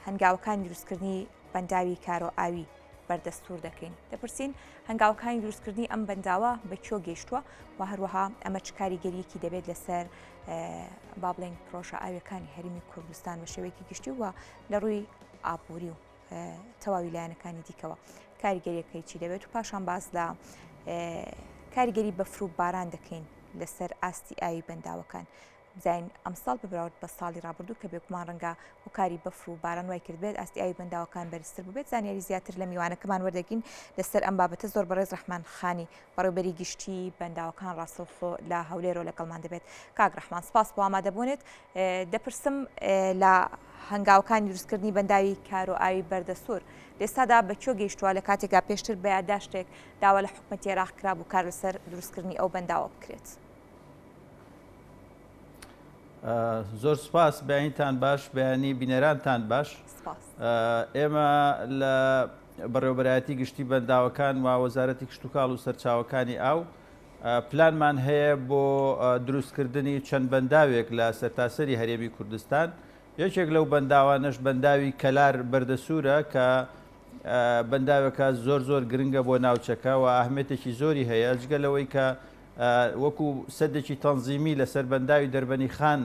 هەنگاوەکانی دروستکردنی بەنداوی کارۆ ئاوی بەردەستور دەکەین دەپرسین هەنگاوەکانی دروستکردنی ئەم بەنداوە بە کۆ گەیشتووە و هەروەها ئەمە چ کاریگەریەکی دەبێت لەسەر با بڵێن پرۆژە ئاویەکانی هەرمی کوردستان بە شێوەیەکی گشتی وە لە ڕووی ئابووری و تەواوی لایەنەکانی دیکەوە کاریگەریەکەی چی دەبێت و پاشان باز لە کاریگەری بەفروو باران دەکەین لەسەر ئاستی ئاوی بەنداوەکان بزانین ئەمساڵ بە بەراورد بە ساڵی رابردوو کە بێگومان رەنگە هۆکاری بەفر و باران وای کردبێت ئاستی ئاوی بەنداوەکان بەرزتر بووبێت زانیاری زیاتر لە میوانەکەمان وەردەگین لەسەر ئەم بابەتە زۆر بەڕێز رەحمان خانی بەڕێوبەری گشتی بەنداوەکان راستەوخۆ لە هەولێرۆ لەگەڵمان دەبێت کاک رەحمان سپاس بۆ ئامادەبوونت دەپرسم لە هەنگاوەکانی دروستکردنی بەنداوی کارۆ ئاوی بەردەسوور لێستادا بە کێ گەیشتووە لە کاتێکدا پێشتر بە یاداشتێک داوا لە حکوومەتی عێراق کرابوو کار لەسەر دروستکردنی ئەو بەنداوە بکرێت. زۆر سپاس بەینتان باش بەیانی بینەرانتان باش ئێمە لە بەڕێوبەرایەتی گشتی بەنداوەکان و وەزارەتی کشتتوکاڵ و سەرچاوەکانی ئاو پلانمان هەیە بۆ دروستکردنی چەند بەنداوێک لە سەرتاسەری هەرێمی کوردستان یەکێک لەو بەنداوانەش بەنداوی کەلار بەردەسوورە کە بەنداوەکە زۆر زۆر گرنگە بۆ ناوچەکە و ئاهمێتێکی زۆری هەیە جگە لەوەی کە وەکو سەدێکی تەنزیمی لەسەر بەنداوی دەربەنیخان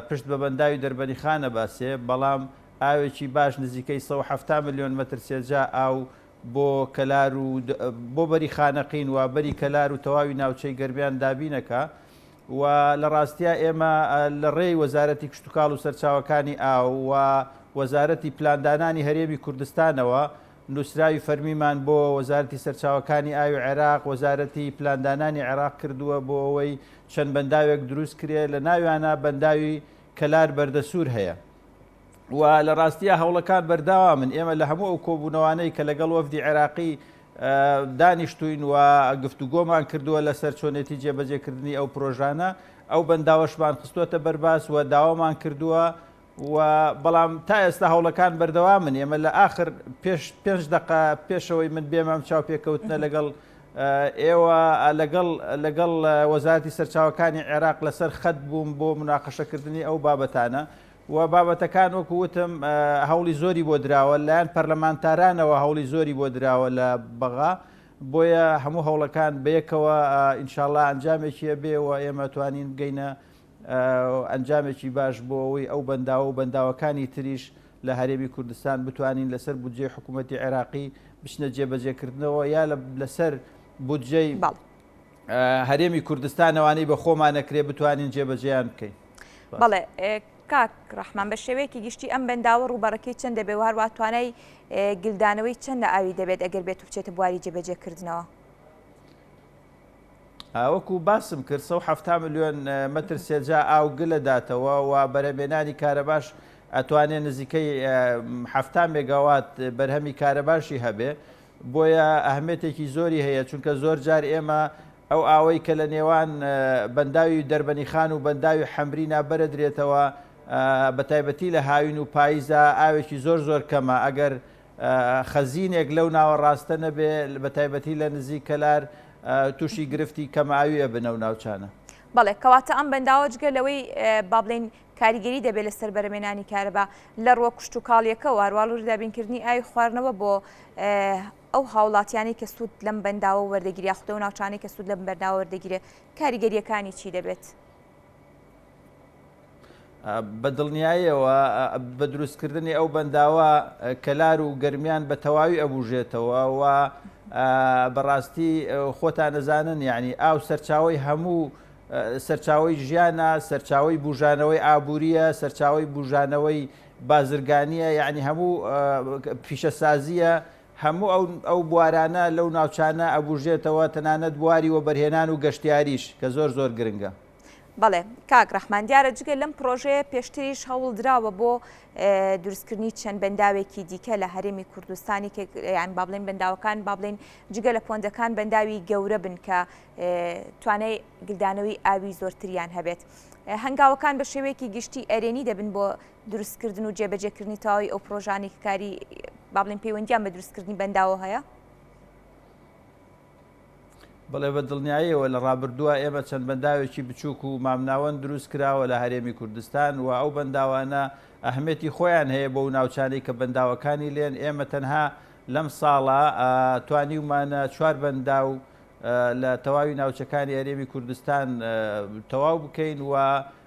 پشت بە بەنداوی دەربەنیخان ئەباسێ، بەڵام ئاوێکی باش نزیکەی سەد و حەفتا ملیۆن مەتر سێجا ئاو بۆ کەلار و بۆ بەری خانەقین و بەری کەلار و تەواوی ناوچەی گەرمیان دابین ئەکا و لە ڕاستیا ئێمە لە ڕێی وەزارەتی کشتوکاڵ و سەرچاوەکانی ئاو و وەزارەتی پلاندانانی هەرێمی کوردستانەوە نووسراوی فەرمیمان بۆ وەزارەتی سەرچاوەکانی ئاوی عێراق، وەزارەتی پلاندانانی عێراق کردووە بۆ ئەوەی چەند بەنداوێک دروست کرێ، لە ناویانە بەنداوی کەلار بەردەسوور هەیە و لە ڕاستیا هەوڵەکان بەرداوامن، ئێمە لە هەموو ئەو کۆبوونەوانەی کە لەگەڵ وەفدی عێراقی دانیشتووین و گفتوگۆمان کردووە لەسەر چۆنێتی جێبەجێکردنی ئەو پرۆژانە، ئەو بەنداوەشمان خستووەتە بەرباس و داوامان کردووە و بەڵام تا ئێستا هەوڵەکان بەردەوامن ئێمە لە ئاخر پێش پێنج دقە پێشەوەی من بێمە ئەم چاوپێکەوتنە لەگەڵ ئێوە لەگەڵ لەگەڵ وەزارەتی سەرچاوەکانی عێراق لەسەر خەت بووم بۆ مناقەشەکردنی ئەو بابەتانە و بابەتەکان وەکو وتم هەوڵی زۆری بۆ دراوە لایەن پەرلەمانتارانەوە هەوڵی زۆری بۆ دراوە لە بەغا بۆیە هەموو هەوڵەکان بەیەکەوە ئینشاالله ئەنجامێکیە بێ و ئێمە توانین بگەینە ئەنجامێکی باش بۆ ئەوەی ئەو بەنداوە و بەنداوەکانی تریش لە هەرێمی کوردستان بتوانین لەسەر بودجەی حکوومەتتی عێراقی بچنە جێبەجێکردنەوە یا لەسەر بودجەی هەرێمی کوردستانەوانی بە خۆمانەکرێ بتوانین جێبەجێیان بکەین بەڵێ کاک ڕحمان بە شێوەیەکی گشتی ئەم بەنداوە ڕوبەڕەکەی چەند دەبێ و هەروە توانای گلدانەوەی چەند لە ئاوی دەبێت ئەگەر بێت و بچێتە بواری جێبەجێکردنەوە وەکو باسم کرد سەد و حەفتا ملیۆن مەتر سێجا ئاو گلە داتەوە و بەرەمێنانی کارەباش ئەتوانێ نزیکەی حەفتا مێگاوات بەرهەمی کارەباشی هەبێ بۆیە ئەهمێتێکی زۆری هەیە چونکە زۆر جار ئێمە ئەو ئاوەی کە لە نێوان بەنداوی دەربەنی خان و بەنداوی حەمری نابەرە درێتەوە بە تایبەتی لە هاوین و پاییزا ئاوێکی زۆر زۆر کەمە ئەگەر خەزینێک لەو ناوەڕاستە نەبێ بە تایبەتی لە نزیک کەلار تووشی گرفتی کەمئاوی ئەبنە و ناوچانە. بەڵێ کەواتە ئەم بەنداوە جگە لەوەی با بڵێن کاریگەری دەبێت لەسەر بەرەمێنانی کارەبا لە ڕووە کشت و کاڵیەکە واروواڵوری دابینکردنی ئاوی خواردنەوە بۆ ئەو هاوڵاتیانی کە سوود لەم بەنداوە وەردەگیریا خودە و ناوچانەی کە سوود لەم بەرداوە وەردەگیرێت کاریگەریەکانی چی دەبێت؟ بە دڵنیایەوە بە دروستکردنی ئەو بەنداوە کەلار و گەرمیان بە تەواوی ئەبوژێتەوە و بەڕاستی خۆتان نەزانن یعنی ئاو سەرچاوی هەموو سەرچاوی ژیانە سەرچاوی بژانەوەی ئابووریە سەرچاوی بژانەوەی بازرگانیە یعنی هەموو پیشەسازیە هەموو ئەو بوارانە لەو ناوچانە ئەبوژێتەوە تەنانەت بواری وەبەرهێنان و گەشتیاریش کە زۆر زۆر گرنگە. بەڵێ کاک ڕەحمان دیارە جگە لەم پڕۆژەیە پێشتریش هەوڵدراوە بۆ دروستکردنی چەند بەنداوێکی دیکە لە هەرێمی کوردستانی یان با بڵێن بەنداوەکان با بڵێن جگە لە پۆندەکان بەنداوی گەورە بن کە توانای گلدانەوەی ئاوی زۆرتریان هەبێت هەنگاوەکان بە شێوەیەکی گشتی ئەرێنی دەبن بۆ دروستکردن و جێبەجێکردنی تەواوی ئەو پرۆژانەی کە کاری با بڵێن پەیوەندیان بە دروستکردنی بەنداوە هەیە؟ بڵێ بە دڵنیاییەوە لە ڕابردووە ئێمە چەند بەنداوێکی بچووک و مامناوەند دروست کراوە لە هەرێمی کوردستان و ئەو بەنداوانە ئەهمێتی خۆیان هەیە بۆ و ناوچانەی کە بەنداوەکانی لێن ئێمە تەنها لەم ساڵە توانیومانە چوار بەندا و لە تەواوی ناوچەکانی هەرێمی کوردستان تەواو بکەین و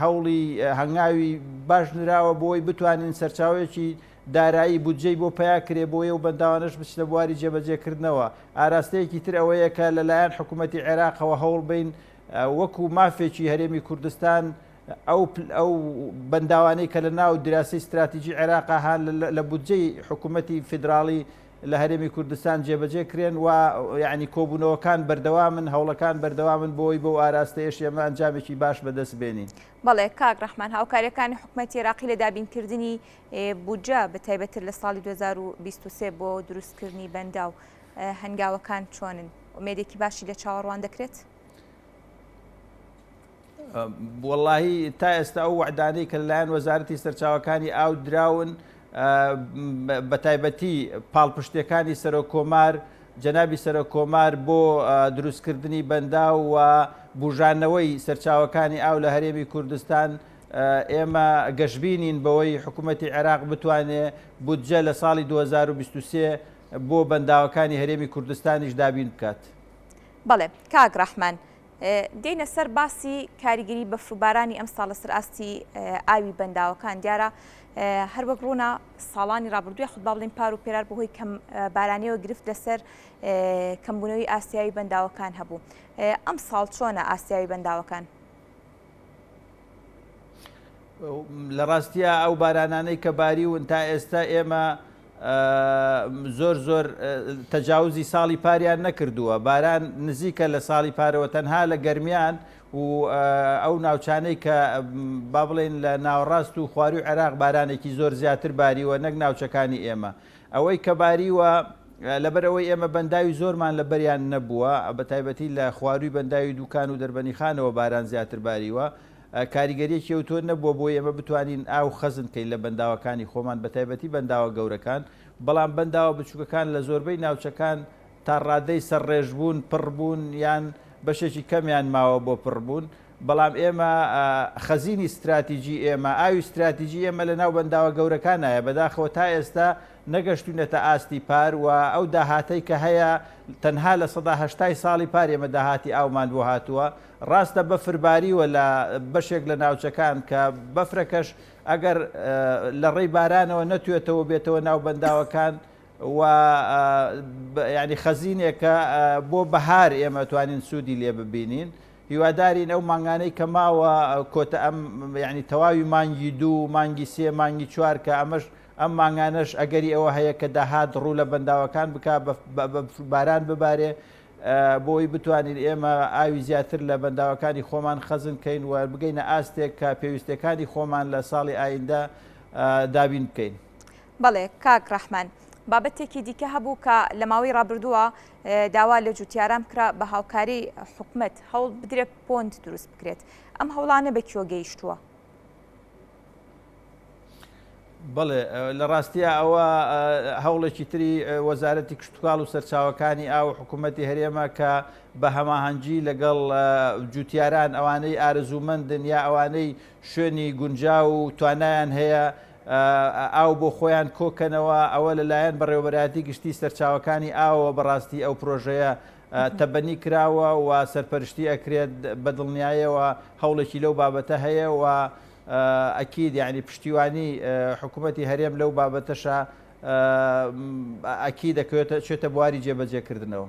هەوڵی هەنگاوی باش نراوە بۆی بتوانین سەرچاوێکی دارایی بودجەی بۆ پیا کرێ بۆیە و بەنداوانش بچ لە بواری جێبەجێکردنەوە ئاراستەیەکی تر ئەوەیە کە لەلایەن حکوومەتتی عێراقەوە هەوڵ بین وەکو مافێکی هەرێمی کوردستان ئەو ئەو بەنداوانەی کە لە ناو دراسی استراتیژی عێراقا هەان لە بودجەی حکوومەتتی فیدراڵی لە هەرێمی کوردستان جێبەجێ کرێن و یانی کۆبوونەوەکان بەردەوامن هەوڵەکان بەردەوامن بۆی بەو ئاراستەیەش ئێمە ئەنجامێکی باش بەدەست بێنین. بەڵێ کاک ڕەحمان هاوکاریەکانی حکومەتی عێراقی لە دابینکردنی بودجە بەتایبەتتر لە ساڵی 2023 بۆ دروستکردنی بەنداو هەنگاوەکان چۆنن؟ ئومێدێکی باشی لە چاوەڕوان دەکرێت؟ وەڵاهی تا ئێستا ئەو وەعدانەی کە لەلایەن وەزارەتی سەرچاوەکانی ئاو دراون بەتایبەتی پاڵپشتەکانی سەرۆک کۆمار جەنابی سەرۆک کۆمار بۆ دروستکردنی بەندا و بژانەوەی سەرچاوەکانی ئاو لە هەرێمی کوردستان ئێمە گەشببینین بەوەی حکوومەتتی عێراق بتوانێ بودجە لە ساڵی 2023 بۆ بەنداوەکانی هەرێمی کوردستانیش دابین بکات. بەڵێ کاک ڕەحمان. دێینە سەر باسی کاریگەری بەفر و بارانی ئەمساڵ لەسەر ئاستی ئاوی بەنداوەکان دیارە هەروەک ڕوونا ساڵانی ڕابردوو یاخود با بڵین پار و پێرار بەهۆی کەم بارانیەوە گرفت لەسەر کەمبوونەوەی ئاسیایی بەنداوەکان هەبوو ئەم ساڵ چۆنە ئاسیایی بەنداوەکان لە ڕاستیە ئەو بارانانەی کە باریون تا ئێستا ئێمە زۆر زۆر تەجاوزی ساڵی پاریان نەکردووە باران نزیکە لە ساڵی پارەوە تەنها لە گەرمیان و ئەو ناوچانەی کە با بڵێن لە ناوەڕاست و خواروی عێراق بارانێکی زۆر زیاتر باریوە نەک ناوچەکانی ئێمە ئەوەی کە باریوە، لەبەر ئەوەی ئێمە بەنداوی زۆرمان لە بەریان نەبووە، بە تایبەتی لە خوارووی بەنداوی دووکان و دەربەنیخانەوە باران زیاتر باریوە، کاریگەرییەکی ئەوتۆ نەبووە بۆی ئێمە بتوانین ئاو خەزن بکەین لە بەنداوەکانی خۆمان بە تایبەتی بەنداوە گەورەکان، بەڵام بەنداوە بچووکەکان لە زۆربەی ناوچەکان تا ڕادەی سەرڕێژبوون، پڕبوون یان بەشێکی کەمیان ماوە بۆ پڕبوون. بەڵام ئێمە خەزینی ستراتیجی ئێمە، ئاوی ستراتیجی ئێمە لە ناو بەنداوە گەورەکانایە، بەداخەوە تا ئێستا نەگەشتوینەتە ئاستی پار و ئەو داهاتەی کە هەیە تەنها لە سەدا هەشتای ساڵی پار ئێمە داهاتی ئاومان بۆ هاتووە، ڕاستە بەفر باریوە لە بەشێک لە ناوچەکان کە بەفرەکەش ئەگەر لە ڕێی بارانەوە نەتوێتەوە بێتەوە ناو بەنداوەکان و یانی خەزینێکە بۆ بەهار ئێمە توانین سوودی لێ ببینین. هیوادارین ئەو مانگانەی کە ماوە کۆتە ئەم یعنی تەواوی مانگی دوو مانگی سێ مانگی چوار کە ئەمەش ئەم مانگانەش ئەگەری ئەوە هەیە کە داهات ڕوو لە بەنداوەکان بک باران ببارێ بۆی بتوانین ئێمە ئاوی زیاتر لە بەنداوەکانی خۆمان خەزن کەین و بگەینە ئاستێک کە پێویستەکانی خۆمان لە ساڵی ئایندە دابین بکەین. بەڵێ کاک ڕەحمان، بابەتێکی دیکە هەبوو کە لە ماوەی ڕابردووە داوا لە جووتیاران بکرا بە هاوکاری حکومەت هەوڵ بدرێت پۆند دروست بکرێت، ئەم هەوڵانە بە کوێ گەیشتووە؟ بەڵێ لە ڕاستیا ئەوە هەوڵێکی تری وەزارەتی کشتتوکاڵ و سەرچاوەکانی ئاو حکوومەتتی هەرێمە کە بە هەماهەنگگی لەگەڵ جوتیاران ئەوانەی ئارزوومەندن یا ئەوانەی شوێنی گونجاو و توانایان هەیە ئاو بۆ خۆیان کۆکەنەوە، ئەوە لەلایەن بەڕێوەبەرایەتی گشتی سەرچاوەکانی ئاوەوە بەڕاستی ئەو پرۆژەیە تەبەنی کراوە و سەرپەرشتی ئەکرێت بەدڵنیایەوە هەوڵێکی لەو بابەتە هەیە و ئەکید یانی پشتیوانی حکومەتی هەرێم لەو بابەتەشە ئەکیدەکەوێتە چێتە بواری جێبەجێکردنەوە.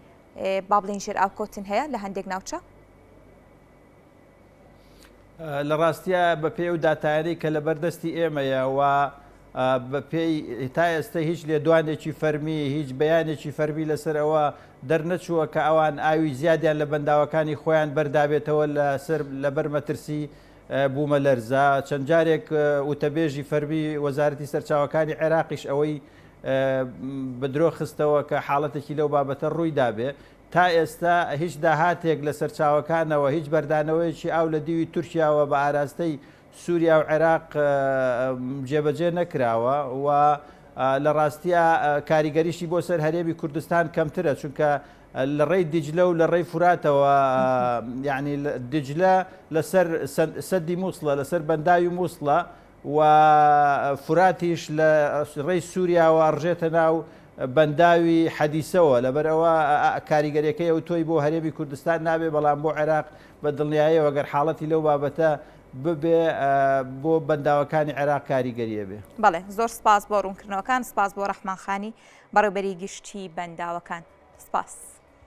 با بڵێن ژێرئاوکەوتن هەیە لە هەندێک ناوچە؟ لە ڕاستیە بە پێ و داتایانی کە لە بەردەستی ئێمەیە و بەپێی تا ئێستا هیچ لێدوانێکی فەرمی هیچ بەیانێکی فەرمی لەسەرەوە دەرنەچووە کە ئەوان ئاوی زیادیان لە بەنداوەکانی خۆیان بەردابێتەوە لەسەر لەبەر مەترسی بوومە لەرزە چەند جارێک وتەبێژی فەرمی وەزارەتی سەرچاوەکانی عێراقیش ئەوەی بەدرۆ خستەوە کە حاڵەتێکی لەو بابەتە ڕوویدابێ، تا ئێستا هیچ داهاتێک لە سەرچاوەکانەوە هیچ بەردانەوەیەکی ئاو لە دیوی تورکیاوە بە ئاراستەی سوریا و عێراق جێبەجێ نەکراوە و لە ڕاستیە کاریگەریشی بۆ سەر هەرێمی کوردستان کەمترە چونکە لە ڕێی دیجلە و لە ڕێی فراتەوە یعنی دیجلە لەسەر سەدی مووسڵە لەسەر بەنداوی مووسڵە و فوراتیش لە ڕێی سوریاوە ئەڕژێتە ناو بەنداوی حەدیسەوە، لەبەرئەوە کاریگەریەکەی ئەوتۆی بۆ هەرێمی کوردستان نابێ، بەڵام بۆ عێراق بە دڵنیایەوە گەر حاڵەتی لەو بابەتە ببێ بۆ بەنداوەکانی عێراق کاریگەریە بێ. بەڵێ زۆر سپاس بۆ ڕوونکردنەوەکان، سپاس بۆ ڕەحمان خانی بەڕێوبەری گشتی بەنداوەکان. سپاس.